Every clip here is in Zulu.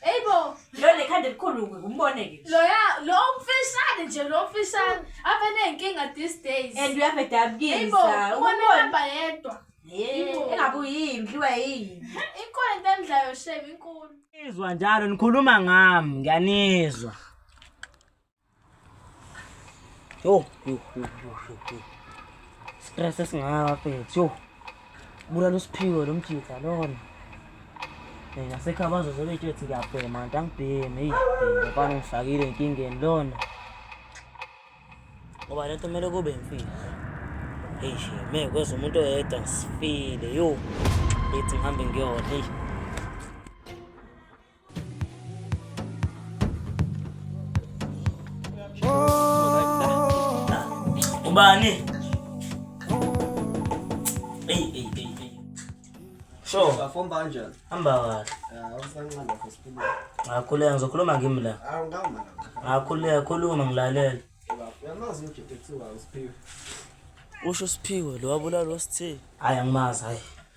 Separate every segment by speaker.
Speaker 1: Hey bo,
Speaker 2: lo lekhanda elikhulu
Speaker 1: umbone ke. Lo ya, lo
Speaker 2: mfishane nje lo mfishane. Abe nenkinga these days. And you have a dab kids.
Speaker 1: Hey bo, ubona
Speaker 2: hamba yedwa. Hey, engabuyi
Speaker 1: imdliwa yini. Inkolo into
Speaker 2: emdlayo shame inkulu. Izwa njalo
Speaker 3: nikhuluma ngami, ngiyanizwa. Yo, yo, yo, yo, yo, yo. Stress esingaka mfethu. Yo. Bulala usiphiwe lo mjitha lona. Eh nasekhaya bazoze bethu ethi ngiyabhema kanti angibhemi. Hey, ngifana ngifakile inkingeni lona. Ngoba lento kumele kube imfihlo. Hey, me kweza umuntu oyedwa ngisifile. Yo. Ethi ngihambe ngiyona. Hey. Ubani? Hey, hey, hey, hey. Sho, Safomba kanjani?
Speaker 4: hamba kahle. Ah, usanqanda lapho siphila. Ngakhuleka ngizokhuluma
Speaker 3: kimi la. Ah, ngawuma la.
Speaker 4: Ngakhuleka khuluma
Speaker 3: ngilalele. Uyamazi
Speaker 4: umjede kuthiwa uSiphiwe.
Speaker 3: Usho usiphiwe lo wabulala wasithini. Hayi angimazi hayi.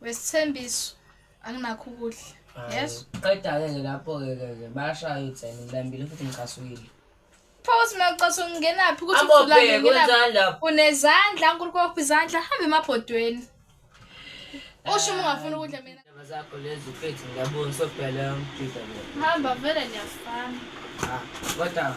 Speaker 3: Wesithembiso
Speaker 2: anginakho ukudla. Yes. Qeda-ke ke lapho-ke
Speaker 3: ke ke bayashaya utheni ngilambile futhi ngicasukile. Pause mina
Speaker 2: ucaso ngingenaphi ukuthi Abo usulale bheka ngingenaphi. kwenzani
Speaker 3: lapho? Unezandla uNkulunkulu
Speaker 2: wakuphi izandla hambe emabhodweni. Usho uma ungafuni ukudla mina. Indaba zakho lezi mfethu
Speaker 3: ngiyabona sobhela umjida lo. Hamba vele
Speaker 2: niyafana. Ah, kodwa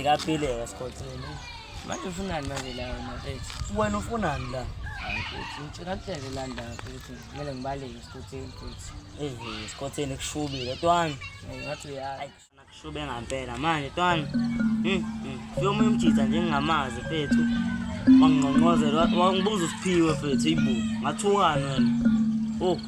Speaker 3: Ikaphile kasikhotheni. Manje ufunani manje la wena mfethu? Wena ufunani la? Hayi mfethu, ngicela kuhlele la ndawo mfethu. Kumele ngibaleke esikhotheni mfethu. Eh, esikhotheni kushubile twani. Ngathi uyayi. Kushube ngampela manje twani. Hmm. Fika omunye umjitha nje ngingamazi mfethu. Wangingqongqozela wangibuza usiphiwe mfethu ibu. Ngathukana wena. Oh.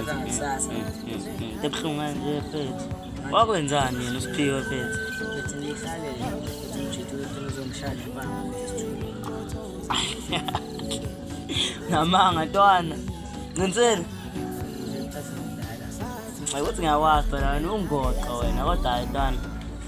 Speaker 3: Akangisasa. Ebuhlungu nje mfethu. Wakwenzani yena uSiphiwe mfethu? Mfethu ngihlale la. Mfethu ngijithe ukuthi ngizomshaya impama. Namanga ntwana. Ncinsile. Ngithatha umdala. Hayi ukuthi ngiyakwazi phela wena ungoqo wena kodwa hayi ntwana.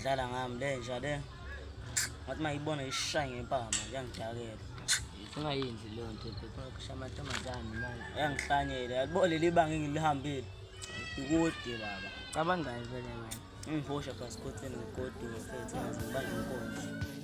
Speaker 3: Dlala ngami le nja le. Ngathi mayibona ishaya ngempama yangidakela. Singayinzi leyo nto phepha kusha amantombazane manje. Yangihlanyela yalibona leli banga engilihambile. Ikude baba. Cabangani vele wena? Ngiphosha passport engigodini mfethu ngaze ngibanga inkonzo.